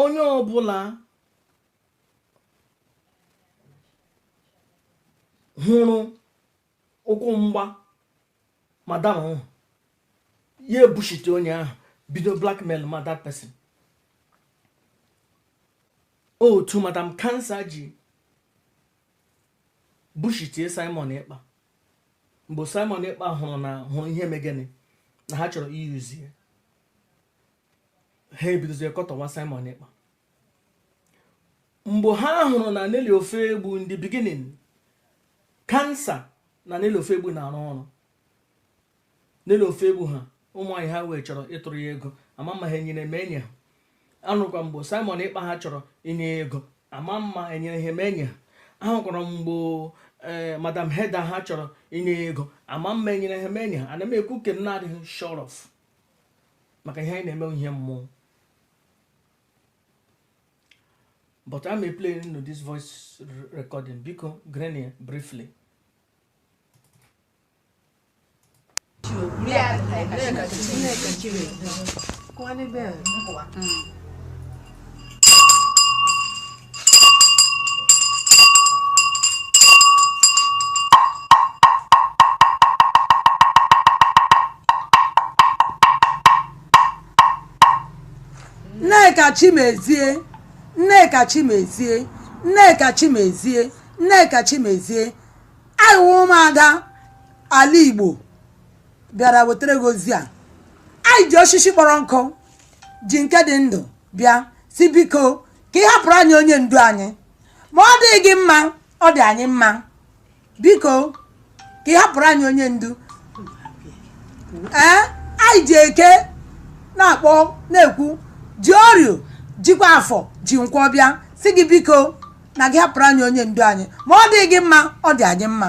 onye ọbụla hụrụ ụkwụ mgba madam ahụ ya ebullshitie onye ahụ bido blackmail ma that person otu madam cancer ji bullshitie Simon Ekpa mgbe Simon Ekpa hụrụ na hụrụ ihe megene na ha chọrọ iyuzi ya ha ebidozie kọtọwa Simon Ekpa mgbe ha hụrụ na Nelly Ofoegbu in the beginning cancer na Nelly Ofoegbu na-arụ ọrụ Nelly Ofoegbu ha ụmụanyị ha wee chọrọ ịtụrụ ya ego ama m ma ha enyere ma enye ha anụkwa mgbe Simon Ekpa ha chọrọ inye ya ego ama m ma enyere ha ma enye ha ahụkwara mgbe eh, madam heda ha chọrọ inye ya ego ama m ma enyere ha ma enye ha ana m ekwu nke m na-adịghị sure of maka ihe anyị na-eme wụ ihe mmụọ but ka m play unu this voice recording biko gerenụ ya briefly Nneka Chimezie Nneka Chimezie Nneka Chimezie Nneka Chimezie anyị wụ ụmụada ala igbo bịara wetara gị ozi a anyị ji osisi kpọrọ nkụ ji nke dị ndụ bịa sị biko ka ị hapụrụ anyị onye ndu anyị ma ọ dịghị gị mma ọ dị anyị mma biko ka ị hapụrụ anyị onye ndu ee anyị ji eke na-akpọ na-ekwu ji orio jikwa afọ ji nkwọ bịa sị gị biko na gị hapụrụ anyị onye ndu anyị ma ọ dịghị gị mma ọ dị anyị mma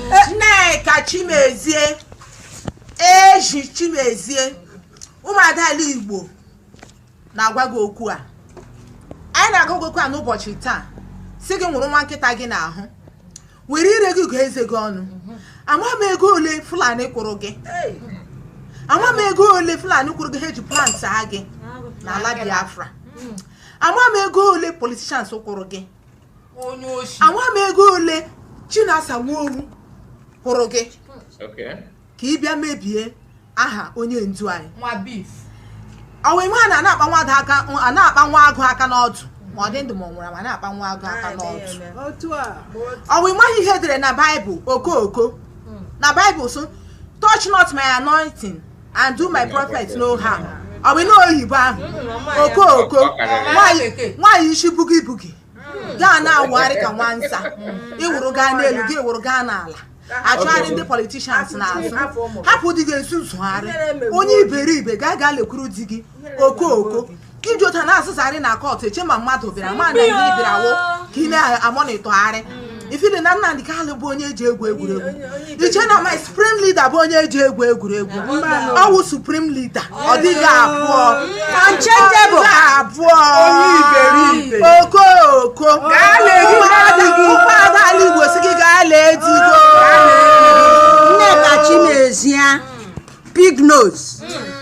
Nneka Chimezie eji Chimezie ụmụada ala igbo na-agwa gị okwu a anyị na-agwa gị okwu a n'ụbọchị taa sị gị nwụrụ nwa nkịta gị n'ahụ were ire gị gụọ eze gị ọnụ ama m ego ole fulani kwụrụ gị ama m ego ole fulani kwụrụ gị ha eji plant ha gị n'ala biafra ama m ego ole politicians kwụrụ gị ama m ego ole Chinasa Nworu kwụrụ gị ka ị bịa mebie aha onye ndu anyị ọwa ịmaghị anaghị akpa nwa agụ aka n'ọdụ ma ọ dị ndụ ma ọ nwụrụ ma anaghị akpa nwa agụ aka n'ọdụ ọwa ịmaghị ihe edere na baịbụl okooko hmm. na baịbụl sị touch not my anointing and do my prophet no harm ọ bụ na oyibo ahụ okooko nwaanyị isi bugi bugi gaa na-awụgharị ka nwansa ịwụrụ gaa n'elu gị wụrụ gaa n'ala achụgharị ndị politicians n'azụ hapụ di gị ezuzugharị onye iberibe gaa gaa lekwuru di gị okooko ka iji otu a na-azụzarị na kọtụ eche ma mmadụ bịara ma na ihe bịara wo ka ị na-amonitọgharị mm. ifili na Nnamdi Kanu bụ onye eji egwu egwuregwu iche na my supreme leader bụ onye eji egwu egwuregwu ọ wụ supreme leader ọ dịghị abụọ abụọ okooko ụmụada ala Igbo sị gị gaa lee digo Nneka Chimezie pig nose mm.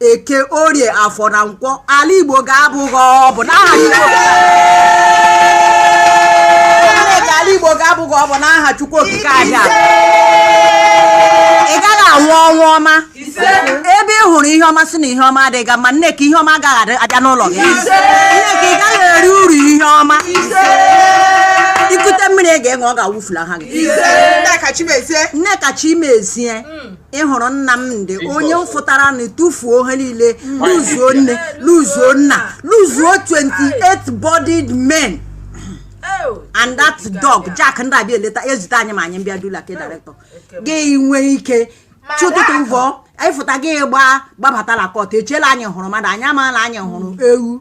eke orie afọ na nkwọ ala igbo ga-abụ gị ọnụ n'aha Chineke ala igbo ga-abụ gị ọnụ n'aha Chukwu okike aja ị gaghị anwụ ọnwụ ọma ebe ị hụrụ ihe ọma sị na ihe ọma adịghị gị mma Nneka ihe ọma agaghị adị- abịa n'ụlọ gị Nneka ị gaghị eri uru ihe ọma i kute mmiri ị ga-aṅụ ọ ga-awụfulaha gị Nneka Chimezie Nneka Chimezie ị hụrụ Nnamdi onye fụtara na tufuo ihe niile luzuo nne luzuo nna luzuo 28 bodied men and that dog jack ndị abịa eleta ezute anyị ma anyị mbịa dula ke director gị nwee ike chi ụtụtụ vọ ịfụta gị gbaa gbabata na court echiela anyị hụrụ mmadụ anyị amaala anyị hụrụ ewu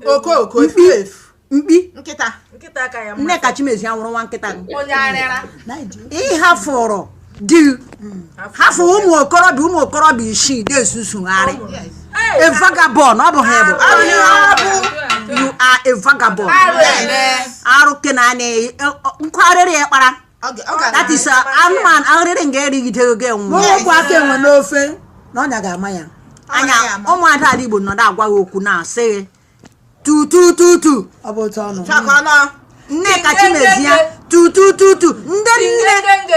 mkpi mkpi nkịta nkịta ka ya Nneka Chimezie awụrụ nwa nkịta onye arịara ịhafụrụ di hafụ ụmụ okorobịa ụmụ okorobịa isii na-ezuzugharị a vagabond ọ bụ gị bụ you are a vagabond arụ ke na ana nkwarịrị ya kpara that is anụmanụ arịrị nga erigide oge nwụ okwu aka enwe n'ofe na ọnya ga-ama ya anya ụmụada ala igbo nọdụ agwa gị okwu na-asị gị tutututu ọ bụ otu ọnụ chakwana nneka chimezie tutututu ndị nne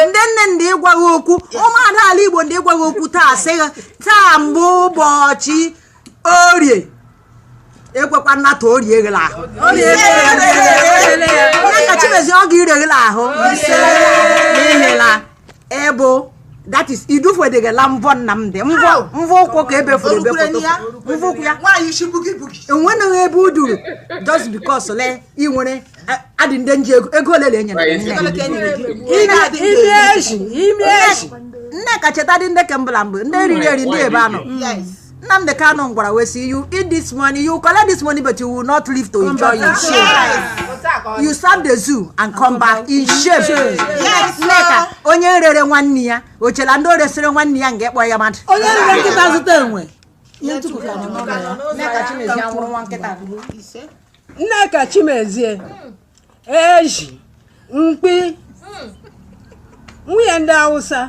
ndị nne ndị ịgwa gị okwu ụmụada ala igbo ndị ịgwa gị okwu taa sị gị taa mbụ ụbọchị orie ekwekwa nnata orie gị la ahụ nneka chimezie ọ ga-ire gị la ahụ ihela ebo that is idufedegala mvọ Nnamdi mvọ mvọ ụkwụ ka ebefuru ebefoto mvọ ụkwụ ya enweghị ebe o duru just because le ị nwere adị ndị nji ego ego ole na e nyere Nneka cheta dị ndị kembụla mgbe ndị eriri eri ndị ebe anọ Nnamdi Kanu gwara wee sị you eat this money you collect this money but you will not live to enjoy in shame you serve the zoo and come back in shame Yes, Nneka onye rere nwanne ya o chela ndị o resịrị nwanne ya ga-akpọ ya mmadụ onye rere nkịta zụta enwe ihe ntukwu ka nọ n'ụlọ ya. Nneka Chimezie anwụrụ nwa nkịta Nneka Chimezie ezi mkpi nwunye ndị awụsa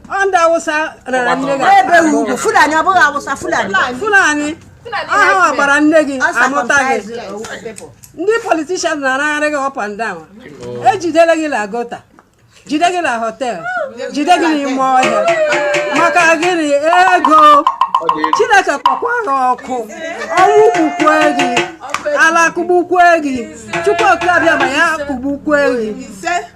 ọ ndị awụsa rara nne gị ebe akpa ugwu fulani ọ bụghị awụsa fulani fulani ọ ha nwa gbara nne gị amụta gị ndị politishan na-aragharị gị up and down e jidere gị la gọta jide gị na họtel jide gị n'ime ọhịa maka gịnị ego chineke kpọkwa gị ọkụ ọnwụ gbukwue gị ala kụgbukwue gị chukwu oke abịama kụgbukwue gị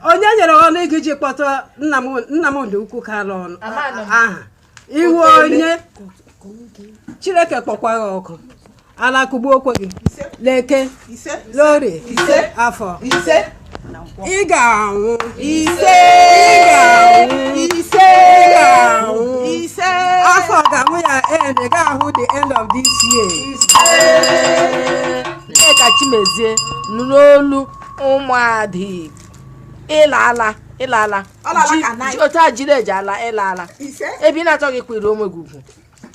onye nyere ọnụ gị ji kpọta nnam nnamdi okwu kanu aha ị wụ onye chineke kpọkwa gị ọkụ ala kụgbuokwe gị leke lori afọ ị ga-anwụ ise ị ga-anwụ ise ị ga-anwụ ise afọ ga-anwụ ya end ị gaghị ahụ the end of this year nneka chimezie nụrụ olu ụmụadị ị laala ị laala otu e jiri eji ala ị laala ebe ị na-achọghị ịkwanyere onwe gị ugwu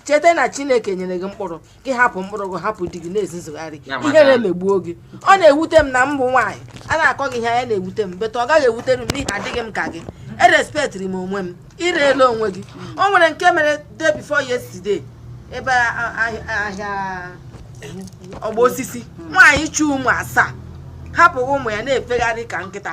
cheta na chineke nyere gị mkpụrụ gị hapụ mkpụrụ gị hapụ di gị na-ezuzugharị ihere megbuo gị ọ na-ewute m na mbụ nwaanyị a na-akọ gị ihe anya na-ewute m but ọ gaghị ewutere m n'ihi adịghị m ka gị erespektiri m onwe m i reela onwe gị o nwere nke mere day before yesterday ebe ahịa ọgbọ osisi nwaanyị chị ụmụ asaa hapụ ụmụ ya na-efegharị ka nkịta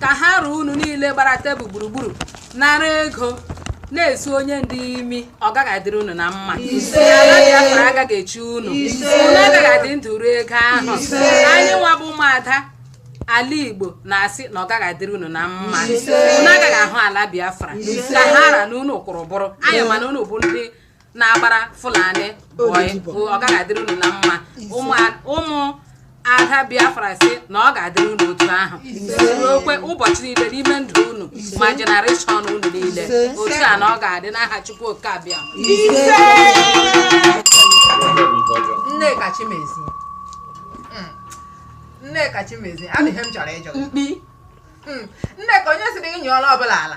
ka ha ra unu niile gbara tebụl gburugburu nara ego na-esu onyendu imi ọ gaghị adịrị unu na mma ala biafra agaghị echi unu unu agaghị adị ndụ rie ego ahụ anyị nwa bụ ụmụada ala igbo na-asị na ọ gaghị adịrị unu na mma unu agaghị ahụ ala biafra ka ha ra na unu kwụrụ bụrụ anyị mana unu bụ ndị na-agbara Fulani bọị ọ gaghị adịrị unu na mma ụmụ ada biafra sị na ọ ga-adịrị unu otu ahụ ruokwe ụbọchị niile n'ime ndụ unu ma jenereshọn unu niile otu a na ọ ga-adị n'aha chukwu oke abịama nneka chimezie hmm. nneka chimezie adịghị m chọrọ ịjụ mkpi hmm. nneka onye sịrị gị nyụọla ọbụla ala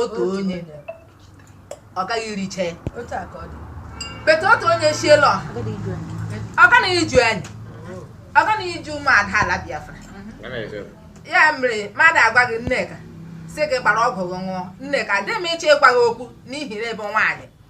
otu onye ọ gaghị ericha ya but otu onye shiela ọ gaghị iju anyị ọ gaghị iju ụmụada ala biafra ya mere mmadụ agwa gị nneka sị gị gbara ọgwụ gị ṅụọ nneka adịghị m ịchọ ịgwa gị okwu n'ihi na ị bụ nwaanyị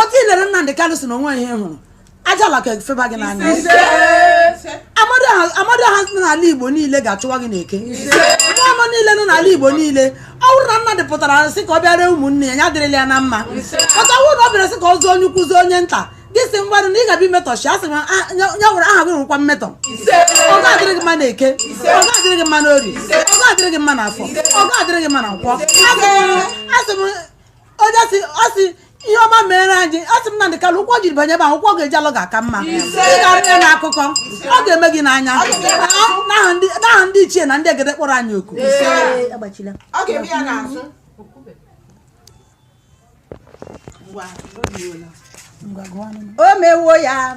otu i lere Nnamdị Kanụ sị na o nwe ihe ị hụrụ aja ala ka efeba gị n'anya amadiọha nọ n'ala igbo niile ga-achụwa gị n'eke mmụọ ọma niile nọ n'ala igbo niile ọ bụrụ na Nnamdị pụtara sị ka ọ bịara ụmụnne ya ya dịrịla ya na mma but ọ wụrụ na ọ bịara sị ka ọ zụọ onye ukwu zụọ onye nta gị si mgbarụ na ị ga-abịa imetọshi asị m ah, ya nwere aha gị nwekwa mmetọ ọ ga-adịrị gị mma na eke ọ ga-adịrị gị mma na orie ọ ga-adịrị gị mma na afọ ọ ga-adịrị gị mma na nkwọ asị m onye si ọ si ihe ọma mere anyị a sị m Nnamdị Kanụ ụkwụ o jiri banye ebe ahụ ụkwụ ọ ga-eji alọ ga-aka mma ị ga-arịa na akụkọ ọ ga-eme gị n'anya n'aha ndị- n'aha ndị ichie na ndị egede kpọrọ anyị oku Ee, agbachila ọ ga-eme ya n'azụ Ngwa, o mewo ya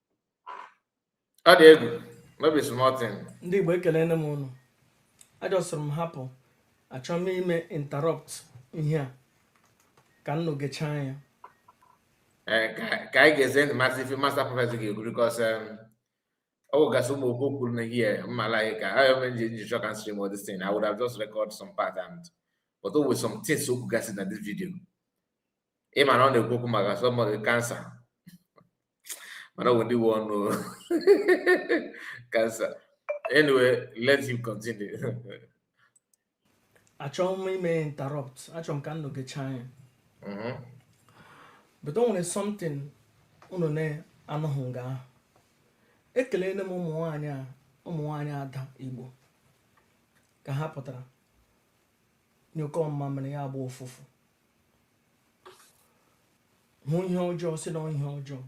ọ dị egwu no be small thing ndị igbo ekelele m ụnụ ajọsịrị m hapụ achọ m ime interrupt ihe a ka ụnụ gechaa ya eh, ka anyị gezie ntị masị ife master prophet ga-ekwu because o nwegasị ụmụ okwu o kwuru na ihe mmala anyị ka ayọ m ji nji chọ ka m stream all this thing I would have just record some part and but o nwe some things o kwugasị na this video ị ma na ọ na-ekwu okwu maka somebody cancer mana ọ bụ ndị nwe ọnụ cancer anyway let him continue achọghị m ime interrupt achọrọ m ka unu gechaa ya Mhm. but o nwere something unu na-anụghị nga ahụ ekelele m ụmụ nwaanyị a ụmụ nwaanyị ada igbo ka ha pụtara nyụkọ mmamịrị ya gbọọ ụfụfụ hụ ihe ọjọọ sị na ihe ọjọọ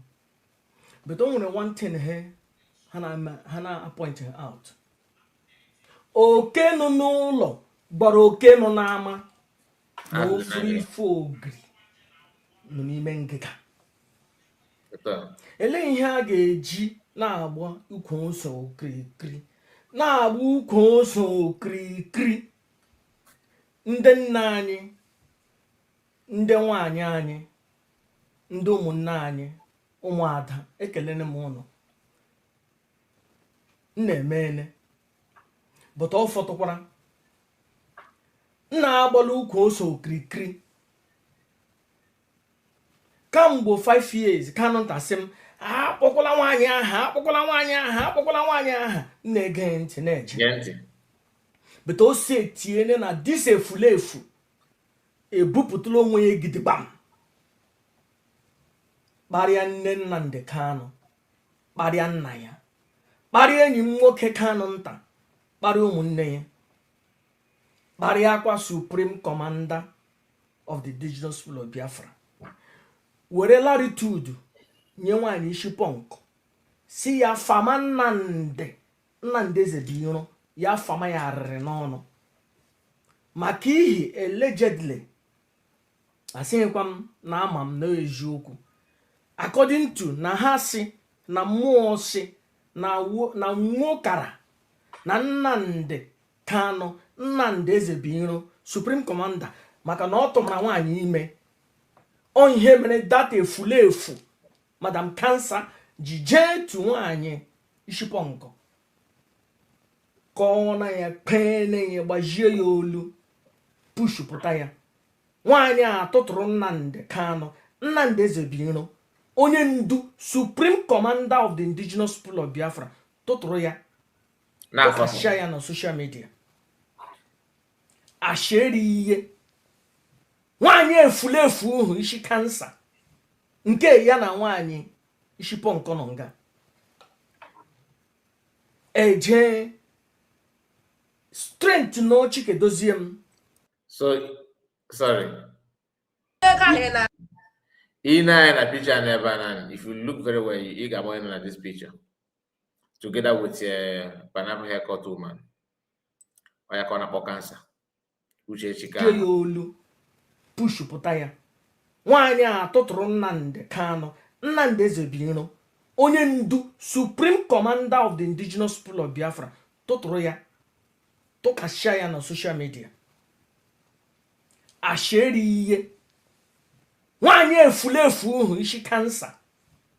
but o nwere one thing he ha na-appoint out oke nọ n'ụlọ gwara oke nọ n'ama na ọ fụrụ ife ogiri nọ n'ime ngịga elee ihe a ga-eji na-agba ukwu ose okirikiri na-agba ukwu ose okirikiri ndị nna anyị ndị nwanyị anyị ndị ụmụnne anyị ụmụada ekelene m ụnụ ụnụ emeene but ọ fọtụkwara ụnụ agbala ukwu ose okirikiri kamgbe 5 years Kanu nta sị m akpọkwala nwaanyị aha akpọkwala nwaanyị aha akpọkwala nwaanyị aha m na-ege ntị na-eje but o si etiene na this efulefu ebupụtala onwe ya gidigbam kparịa nne Nnamdi Kanu kparịa nna ya kparịa enyi m nwoke Kanu nta kparịa ụmụnne ya kparịakwa supreme commander of the indigenous people of biafra were latitude nye nwaanyị isi punk si ya fama Nnamdi Nnamdi Ezebiro ya fama ya arịrị n'ọnụ maka ihi allegedly asịghịkwa m na ama m na eziokwu according to na ha si na mmụọ si na nwa ụkara na Nnamdi Kanu, Nnamdi Ezebiro, Supreme Commander maka na ọ tụmara nwaanyị ime ọ ihe mere that efulefu Madam Cancer ji jee tu nwaanyị ishi punk ka ọ na ya kpee na ya gbajie ya olu pushupụta ya nwaanyị a tụtụrụ Nnamdi Kanu Nnamdi Ezebiro onye ndu Supreme Commander of the Indigenous People of Biafra tụtụrụ ya tụkasịa ya na social media asheri ihe nwaanyị efulefu ọhụ isi cancer nke ya na nwaanyị isi punk nọ nga eje strent na ochike dozie m so sorry i nee anya na picture n'ebe a na if you look very well ị ga-agba na this picture together with eh, pineapple haircut woman ọ ya ka ọ na-akpọ cancer uchechi ka ya olu pushupụta ya nwaanyị a tụtụrụ Nnamdi Kanu Nnamdi Ezebiro onye ndu supreme commander of the indigenous people of biafra tụtụrụ ya tụkasịa ya na social media asheri ihe nwaanyị efulefu ọhụ isi cancer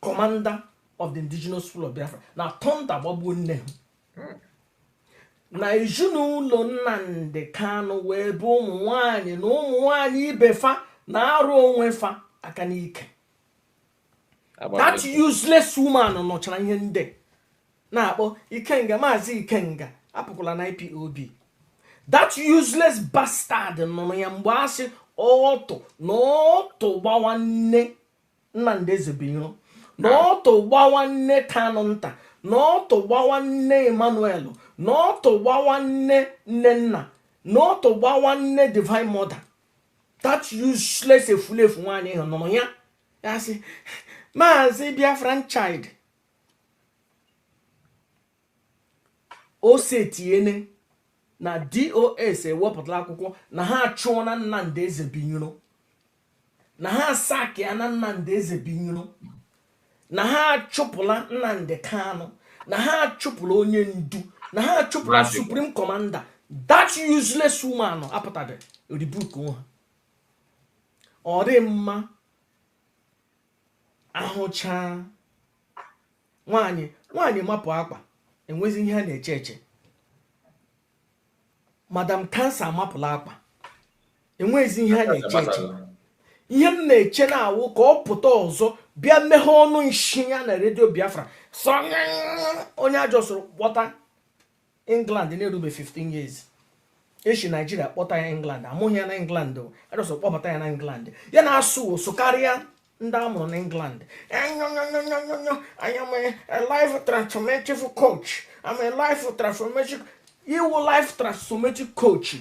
commander of the indigenous people of biafra na thunder gbagbuo nne ha hmm. na ezinụlọ Nnamdi Kanu wee bụ ụmụ nwanyị na ụmụ nwanyị ibe fa na-arụ onwe fa aka n'ike that useless woman nọchara ihe ndị na-akpọ Ikenga Maazị Ikenga apụkwala na IPOB that useless bastard nọ ya mgbe a sị ọtụ na ọtụ gbawa nne Nnamdi Ezebuiro na ọtụ gbawa nne Kanu nta na ọtụ gbawa nne Emmanuel na ọtụ gbawa nne Nnenna na ọtụ gbawa nne Divine Mother that useless efulefu nwaanyị ahụ nụrụ ya ya sị maazị Biafran child o setiene na DOS ewepụtala akwụkwọ na ha achụọna Nnamdi Ezebuiro na ha asackịana Nnamdi Ezebuiro na ha achụpụla Nnamdi Kanu na ha achụpụla onye ndu na ha achụpụla supreme commander that useless woman apụtabe rebuke ha ọ dị mma ahụcha nwanyị nwanyị mapụ akpa enwezi ihe a na-eche eche Madam Cancer amapụla akpa enweghịzi ihe a na-eche eche ihe m na-eche na-awụ ka ọ pụta ọzọ bịa meghe ọnụ nshi ya na redio biafra sọ onye a jọsọrọ kpọta england na-erube 15 years e shi Nigeria kpọta ya england a mụghị ya na england a jọsọrọ kpọbata ya na england ya na-asụ ụsụ karịa ndị a mụrụ n'England anyonyonyonyonyo I am a life transformative coach I'm a life transformative ị wụ life transformative coach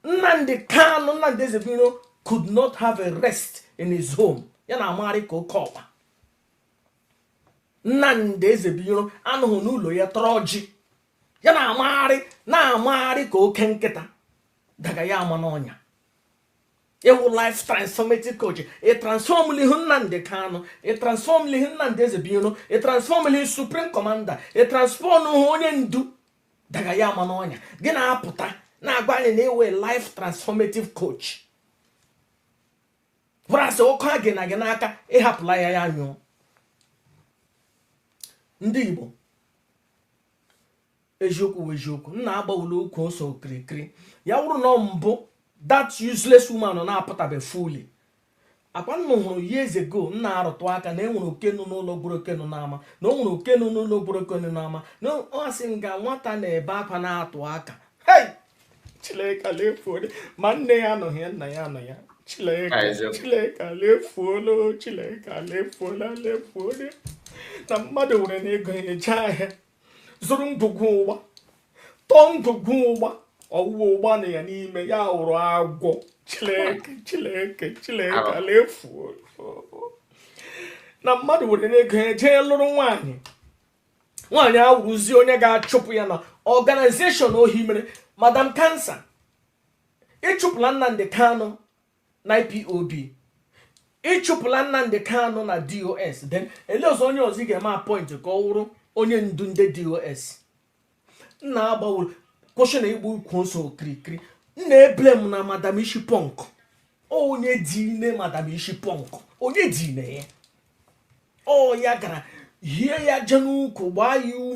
Nnamdi Kanu Nnamdi Ezebuiro could not have a rest in his home ya na-amagharị ka oke ọkpa Nnamdi Ezebuiro anọghị n'ụlọ ya tọrọ ọjị ya na-amagharị na-amagharị ka oke nkịta daga ya ama n'ọnya ị wụ life transformative coach ị transformụlihu Nnamdi Kanu ị transformụlihu Nnamdi Ezebuiro ị transformụlihu supreme commander ị transformhụ onye ndu daga ya ama n'ọnya gị na-apụta na-agwa anyị na ị wụ life transformative coach whereas ọkụ a gụnyere gị n'aka ị hapụla ya ya nyụọ ndị igbo eziokwu wụ eziokwu na agbawula ukwu ose okirikiri ya wụrụ na mbụ that useless woman nọ na-apụtabe fully akwa unu hụrụ years ago m na-arụtụ aka na e nwere oke nọ n'ụlọ gwara oke nọ n'ama na o nwere oke nọ n'ụlọ gwara oke nọ n'ama na a sị nga nwata na-ebe akwa na-atụ aka hey Chileke ala efuole ma nne ya anọghị ya nna ya anọ ya Chileke eziokwu Chileke ala efuole Chileke ala efuola ala efuole na mmadụ werene ego ya jee ahịa zụrụ ngwugwu ụgba tọọ ngwugwu ụgba ọ wụghị ụgba nọ ya n'ime ya wụrụ agwọ chileke chileke chileke ala efu na mmadụ werene ego ya jee lụrụ nwaanyị nwaanyị awụrụzi onye ga-achụpụ ya na organization o hiwere Madam Cancer ị chụpụla Nnamdi Kanu na ipob ịchụpụla nnamdị kanụ na dos then elezie onye ọzọ ị ga-eme appoint ka ọ wụrụ onye ndu ndị dos nna agbawuru kwụsị na ịgba ukwu ose okirikiri nna eble m na madam isi punk onye dine madam isi punk onye dine ya ọ ya gara hie ya aja n'ukwu gbaa ya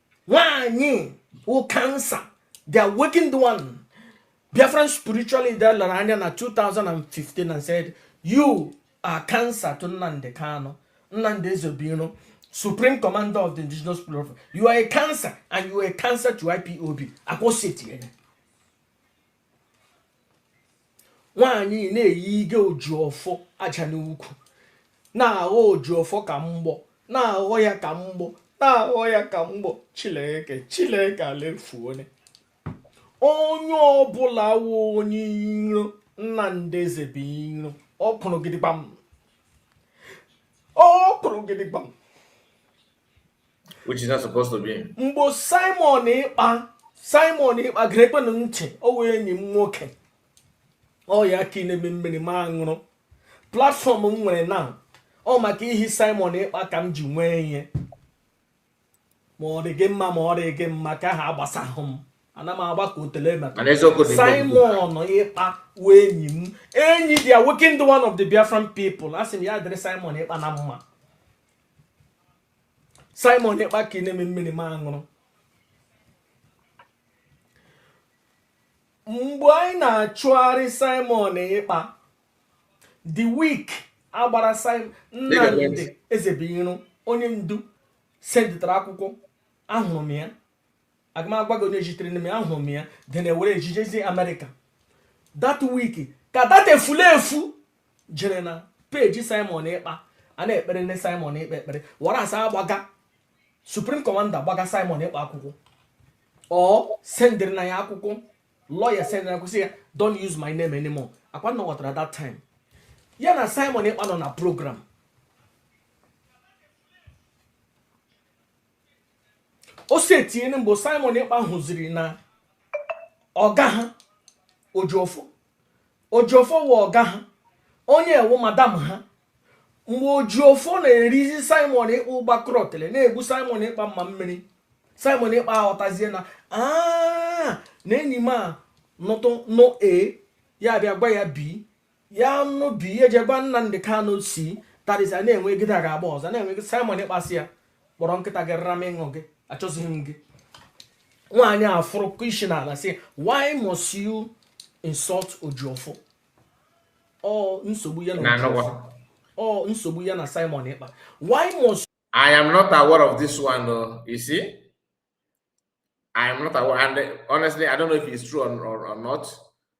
nwaanyị wụ cancer the awakened one biafran spiritual leader lere anya na 2015 and said you are a cancer to nnamdị kanụ nnamdị ezebuiro supreme commander of the indigenous people of you are a cancer and you are a cancer to ipob akwụsịtị ya nwaanyị na-eyige ojiọfọ aja n'ukwu na-aghọ ojiọfọ ka mgbọ na-aghọ ya ka mgbọ na-aghọ ya ka mgbọ chileke chileke alefuone onye ọbụla wụ onye iro nnamdị ezebuiro ọ kụrụ gidigbam ọ kụrụ gidigbam which is not supposed to be. mgbe simon ekpa simon ekpa gerekwenụ ntị ọ wụ enyi m nwoke ọ ya ka na-enye m mmiri m aṅụrụ platform m nwere na ọ maka ihi simon ekpa ka m ji nwee ya ma ọ dị gị mma ma ọ dị gị mma ka ha agbasahụ m ana m agba ka otele maka Mana eziokwu dị simon ekpa wụ enyi m enyi the awakened one of the biafran people asị m ya dịrị simon ekpa na mma Simon Ekpa ka na-enye m mmiri m aṅụrụ mgbe anyị na-achụgharị Simon Ekpa the week agbara Nnamdi Ezebuiro onye ndu sendịtara akwụkwọ ahụrụ m ya agahụ m agwa gị onye zitere n'ime ahụrụ m ya dị na ewere ejijezi amerịka that week ka that efulefu jere na page simon ekpa a na-ekpere ndị simon ekpa ekpere were asị agbaga supreme commander gbaga simon ekpa akwụkwọ ọ sendịrị na ya akwụkwọ lawyer sendịrị na kwụsị ya don't use my name anymore ọ kwa ụnụ ghọtara that time ya na simon ekpa nọ na program o si etinyere mgbe simon ekpa hụziri na ọga ha ojiọfọ ojiọfọ wụ ọga ha onye wụ madam ha mgbe ojiọfọ na-erizi simon ekpa ụgba krọtịrị na-egbu simon ekpa mma mmiri simon ekpa aghọtazie na "Ah, na enyi m a nụtụ nụ a ya bịa gwa ya bi ya nụ dị ihe je gwa Nnamdi Kanu si tarịsa na-enwegide a ga-agba ọzọ na-enweghị Simon Ekpa sị ya kpọrọ nkịta gị rara m ịṅụ gị achọzighị m gị nwaanyị a fụrụ isi n'ala sị why must you insult Ejiofor ọ nsogbu ya na Ejiofor ọ nsogbu ya na Simon Ekpa why must I am not aware of this one though, you see I am not aware and honestly I don't know if it's true or, or, or not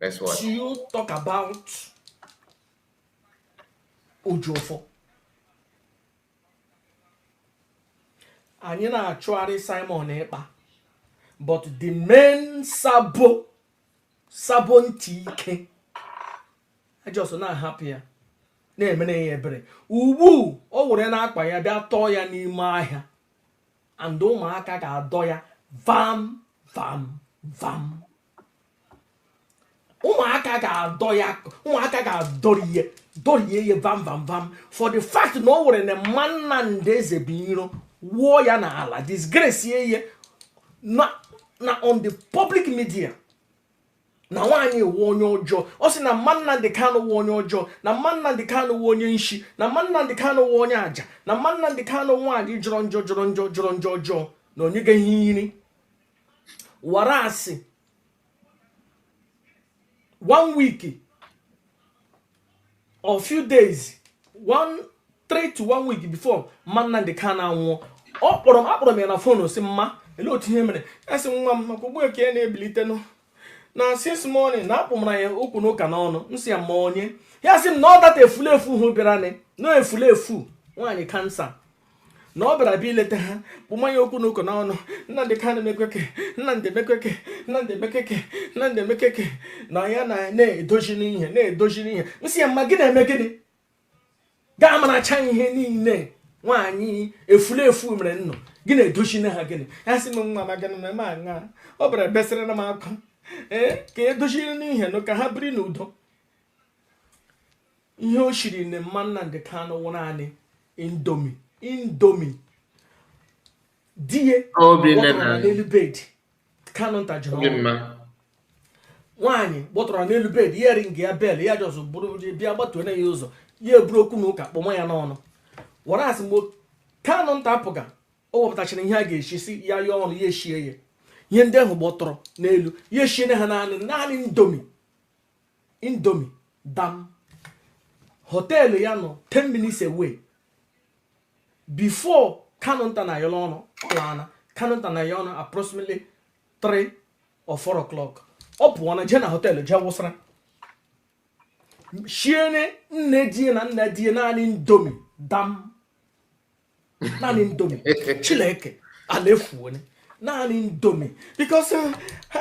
Let's watch. Do you talk about Ejiofor? Anyị na-achụgharị Simon Ekpa but the main sabo sabo ntị ike a just na-ahapụ ya na-emere ya ebere ugbu o were na-akpa ya bịa tọọ ya n'ime ahịa and ụmụaka ga-adọ ya vam vam vam ụmụaka ga-adọ ya ụmụaka ga-adọrie ya dọrie ya vam vam vam for the fact na o were na mma Nnamdi Ezebuiro wuo ya n'ala disgrace ya na na on the public media na nwaanyị a wụ onye ọjọọ ọ sị na mma Nnamdi Kanu wụ onye ọjọọ na mma Nnamdi Kanu wụ onye nshi na mma Nnamdi Kanu wụ onye aja na mma Nnamdi Kanu nwaanyị jọrọ njọ jọrọ njọ jọrọ njọ ọjọọ na o nyeghị ya ihe iri wara asị one week or few days one three to one week before mma Nnamdi Kanu anwụọ ọ kpọrọ m akpọrọ m ya na fon sị mma ele otu ihe mere ya sị nwa m maka ugbu a ka ya na-ebilitenụ na since morning na akpụmara ya okwu n'ụka n'ọnụ m sị ya mma onye ya sị m na ọ that efulefu hụ bịara na efulefu nwaanyị kansa na ọ bịara bịa ileta ha kpụma ya okwu na ụka n'ọnụ Nnamdi Kanu mekeke Nnamdi mekeke Nnamdi mekeke Nnamdi mekeke na ya na na-edozi n'ihe na-edozi n'ihe m sị ya mma gị na-eme gịnị gaa maracha ihe niile nwaanyị efulefu mere ụnụ gị na-edozi na ha gịnị ya sị m nwa ma gịnị ma aṅa ọ bịara besịrị na m akwa ee ka edoziri n'ihe nụ ka ha biri n'udo ihe o shiri na mma Nnamdi Kanu wụ naanị Indomie Indomie die n'elu bed Kanunta jụrụ nwaanyị gbọtọrọ n'elu bed ya ringa ya bell ya ji ọsọ bụrụ bịa gbatuo na ya ụzọ ya eburu okwu na ụka kpọma ya n'ọnụ wara asị mgbe Kanunta apụga o wepụtachara ihe a ga-esi si ya yọọ ọnụ ya eshie ya ihe ndị ahụ gbọtọrọ n'elu ya eshie na ha naanị naanị Indomie indomi dam họteelụ ya nọ 10 minutes away before Kanunta na ya ọnụ ọ laana Kanunta na ya ọnụ approximately 3 or 4 o'clock ọ pụọ na jee na họteelụ jee wụsara shiene nne di e na nna di e naanị indomi dam naanị indomi chileke ala efuone naanị indomi because eh,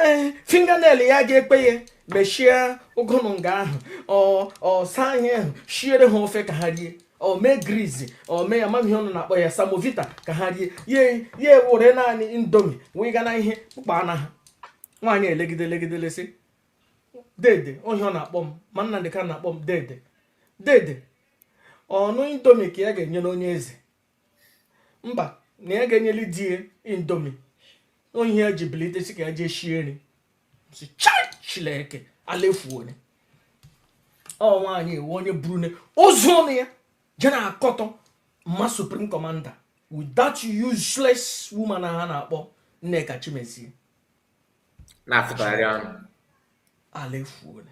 eh, fingernail ya ga-ekwe ya mechie ụgụnụ nga ahụ ọ saa ihe ahụ shiere ha ofe ka ha rie o mee grizi o mee amaghị m ihe ụnụ na-akpọ ya semovita ka ha rie ya ya ewere naanị indomi wee ga na ihe kpụkpa na ha nwaanyị elegide elegide lee sị dede ọ ihe ọ na-akpọ mma Nnamdị Kanu na-akpọ m dede dede ọnụ indomi ka ya ga-enye nwunye eze mba na ya ga-enyeli di ya indomi ọ ihe ya ji bilite sị ka ya jee shie nri sị chileke ala efuone ọ nwaanyị ewe ọnụ ya burune ozu ọnụ ya je na-akọtọ mma supreme commander with that useless woman ha na-akpọ Nneka Chimezie na-afụtagharị ọnụ ala efuone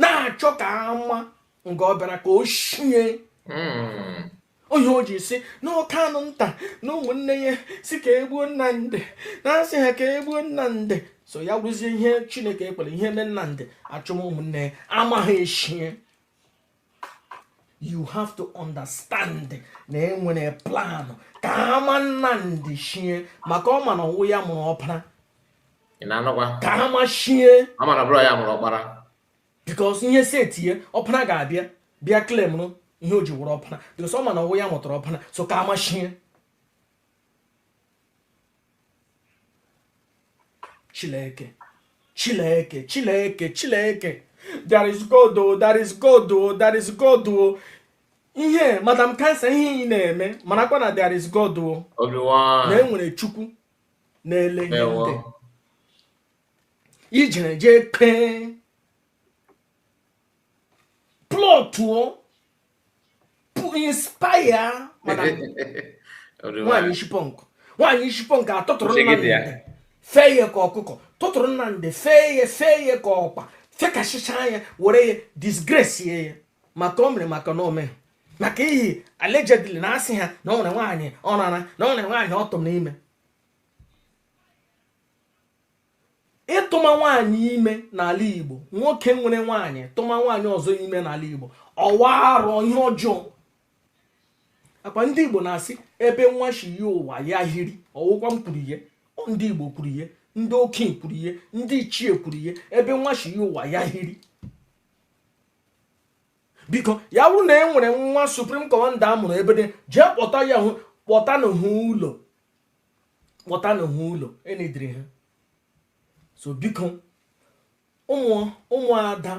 na-achọ ka ama nga ọ bịara ka o shie hmm. ọ ihe o ji sị na Kanunta na ụmụnne ya sị ka e gbuo Nnamdị na asị ha ka e gbuo Nnamdị so ya wụrụzie ihe chineke ekwela ihe mee Nnamdị a chụọ ụmụnne ya ama ha eshie you have to understand na e nwere plan ka ama Nnamdị shie maka ọ ma na ọ wụ ya mụrụ ọpara ka ama shie because ihe si etinye ọpara ga-abịa bịa claimụrụ ihe o ji wụrụ ọpara because ọ ma na ọ wụ ya mụtara ọpara so ka ama shie Chileke Chileke Chileke Chileke there is God o there is God o there is God o ihe madam kansa ihe ị na-eme marakwa na there is God o na e nwere Chukwu na-ele ihe ndị ị jere jee kpee plọtụọ inspire nwaanyị ishi punk nwaanyị ishi punk atụtụrụ Nnamdị fee ya ka ọkụkọ tụtụrụ Nnamdị fee ya fee ya ka ọkpa fekasịcha ya were ya disgrace ya maka o mere maka na o me maka ihe allegedly na asị ha na ọ nwere nwaanyị ọ rara na ọ nwere nwaanyị ọ tụrụ ime ịtụma nwaanyị ime n'ala igbo nwoke nwere nwaanyị tụma nwaanyị ọzọ ime n'ala igbo ọ wụ arụ ihe ọjọọ akwa ndị igbo na-asị ebe nwa shi ya ụwa ya hiri ọ wụkwa m kwuru ihe ndị igbo kwuru ihe ndị okenye kwuru ihe ndị ichie kwuru ihe ebe nwa shi ya ụwa ya hiri biko ya bụrụ na e nwere nwa supreme commander a mụrụ ebe dị jee kpọta ya kpọta n'uhu ụlọ kpọta n'uhu ụlọ enidiri ha so biko ụmụada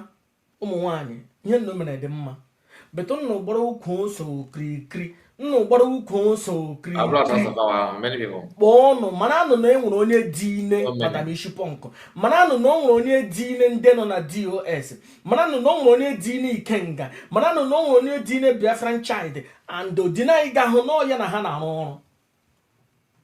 ụmụ nwanyị ihe unu mere dị mma but unu gbara ukwu ose okirikiri unu gbara ukwu ose okirikiri kpọọ ọnụ mara anụ na e nwere onye dị ime madam isi pọnkụ mara anụ na o nwere onye dị ime ndị nọ na dos mara anụ na o nwere onye dị ime ikenga mara anụ na o nwere onye dị ime biafran child and odinanyị ga-ahụ n'ọya na ha na-arụ ọrụ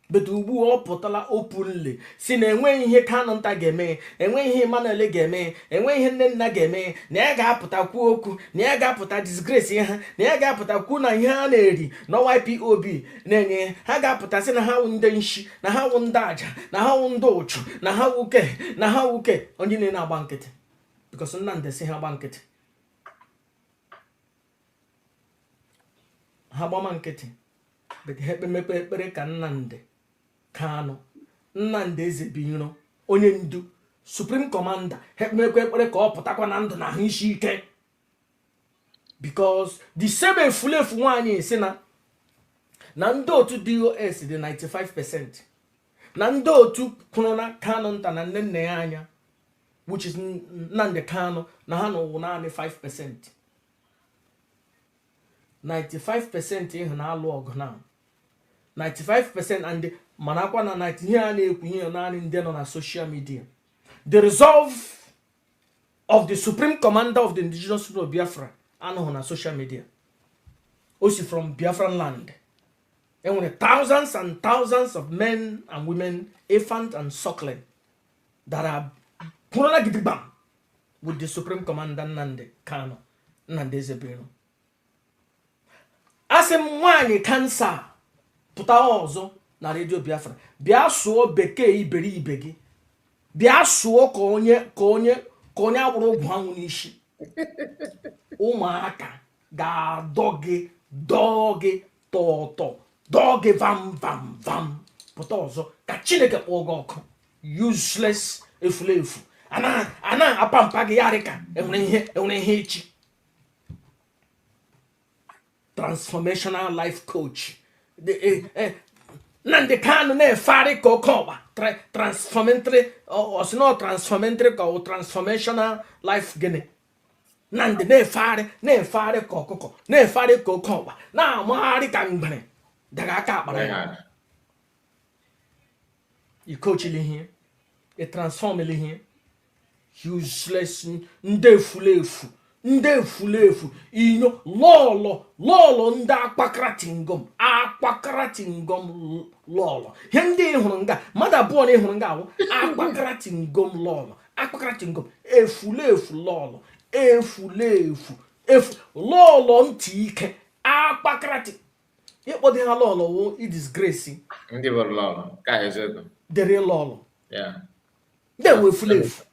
but ugbu a ọ pụtala openly sị na enweghị ihe Kanu nta ga-eme enweghị ihe Emmanuel ga-eme enweghị ihe Nnenna ga-eme na ya ga-apụta kwuo okwu na ya ga-apụta disgrace ha na ya ga-apụta kwuo na ihe ha na-eri na IPOB na-enye ha ga-apụta sị na ha wụ ndị nshi na ha wụ ndị aja na ha wụ ndị ụchụ na ha wuke na ha wuke onye na-agba nkịtị because Nnamdi sị ha gba nkịtị ha gbama nkịtị ha ekpemekwa ekpere ka Nnamdi Kanu Nnamdi Ezebiro onye ndu supreme commander ha ekpemekwa ekpere ka ọ pụtakwa na ndụ na ahụ isi ike because the same efulefu nwaanyị sị na na ndị otu dos dị 95 percent na ndị otu kwụrụ na Kanu nta na Nnennaya Anya which is Nnamdi Kanu na ha na ọ wụ naanị 5 percent 95% ị hụ na-alụ ọgụ na 95% and manakwa na 90 ihe a na-ekwu ihe naanị ndị nọ na social media the resolve of the supreme commander of the indigenous people of biafra anọghị na social media o si from biafran land e nwere thousands and thousands of men and women infant and suckling that are kwụrụla gidigbam with the supreme commander Nnamdi Kanu Nnamdi Ezebiro asị m nwaanyị kansa pụta ọzọ na radio Biafra bịa sụọ bekee iberibe gị bịa sụọ ka onye ka onye ka onye agbụrụ ụgwọ anwụ n'isi ụmụaka ga-adọ gị dọọ gị tọọ ụtọ dọọ gị vam vam vam pụta ọzọ ka chineke kpọọ gị ọkụ useless efulefu a na-apa mpa gị yarị ka enwere ihe enwere ihe echi transformational life coach e, e, nnamdi kanu na-efegharị ka oke ọkpa transformatory ọ sị nọ transformatory ka ọ transformational life gịnị na ndị na-efegharị na-efegharị ka ọkụkọ na-efegharị ka oke ọkpa na-amagharị ka mgbere daga aka akpara ya ikochili ihe ịtransfọmili ihe useless ndị efulefu ndị efulefu inyo lọlọ lọlọ ndị akpakaratingom akpakaratingom lọlọ ihe ndị ị hụrụ nga mmadụ abụọ na ị hụrụ nga a wụ akpakaratingom lọlọ akpakaratingom efulefu lọlọ efulefu efu lọlọ ntị ike akpakarati ịkpọdị ha lọlọ wụ idisgresi ndị bụ lọlọ ka eziokwu dere lọlọ ya ndị ewu efulefu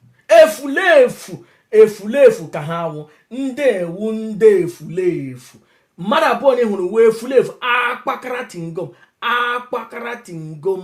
efulefu efulefu ka ha wụ ndị ewu ndị efulefu mmadụ abụọ na ị hụrụ wụ efulefu akpakaratingom akpakaratingom